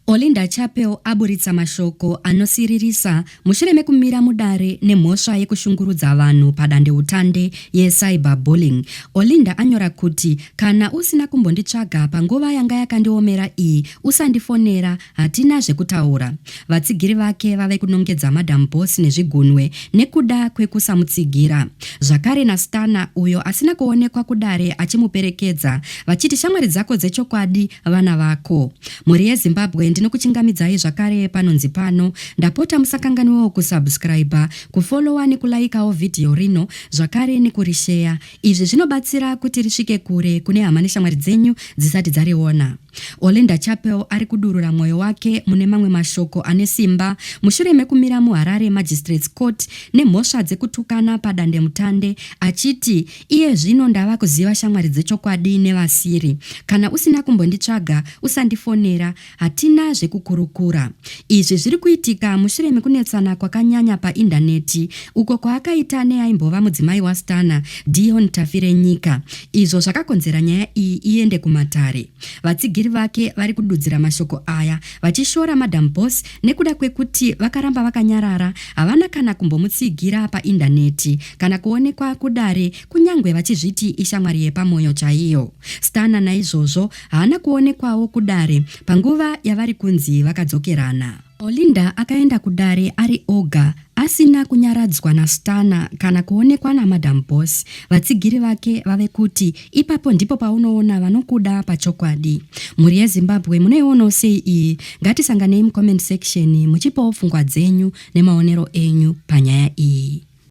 Olinda Chapel aburitsa mashoko anosiririsa mushure mekumira mudare nemhosva yekushungurudza vanhu padandeutande yecyber bullying. Olinda anyora kuti, Kana usina kumbonditsvaga panguva yanga yakandiomera iyi, usandifonera, hatina zvekutaura. Vatsigiri vake vave kunongedza Madam Boss nezvigunwe nekuda kwekusamutsigira. Zvakare naStana, uyo asina kuonekwa kudare achimuperekedza, vachiti shamwari dzako dzechokwadi vana vako. Mhuri yeZimbabwe ndinokuchingamidzai zvakare panonzi pano. Ndapota musakanganwewo kusubscriber, kufollower nekulaikawo vhidhiyo rino zvakare nekurisheya. Izvi zvinobatsira kuti risvike kure kune hama neshamwari dzenyu dzisati dzariona. Olinda Chapel ari kudurura mwoyo wake mune mamwe mashoko ane simba mushure mekumira muHarare Magistrates Court nemhosva dzekutukana padandemutande achiti Iye zvino ndava kuziva shamwari dzechokwadi nevasiri. Kana usina kumbonditsvaga, usandifonera, hatina zvekukurukura. Izvi zviri kuitika mushure mekunetsana kwakanyanya paIndaneti uko kwaakaita neaimbova mudzimai waStana, Dion Tafirenyika, izvo zvakakonzera nyaya iyi iende kumatare. Vatsigiri vake vari kududzira mashoko aya vachishora Madam Boss Nekuda kwekuti vakaramba vakanyarara, havana kana kumbomutsigira paindaneti kana kuonekwa kudare kunyangwe vachizviti ishamwari yepamwoyo chaiyo. Stana naizvozvo haana kuonekwawo kudare panguva yavari kunzi vakadzokerana. Olinda akaenda kudare ari oga Asina kunyaradzwa naStana kana kuonekwa naMadam Boss, vatsigiri vake vave kuti, Ipapo ndipo paunoona vanokuda pachokwadi. Mhuri yeZimbabwe munoionawo sei iyi? Ngatisanganei mucomment section muchipawo pfungwa dzenyu nemaonero enyu panyaya iyi.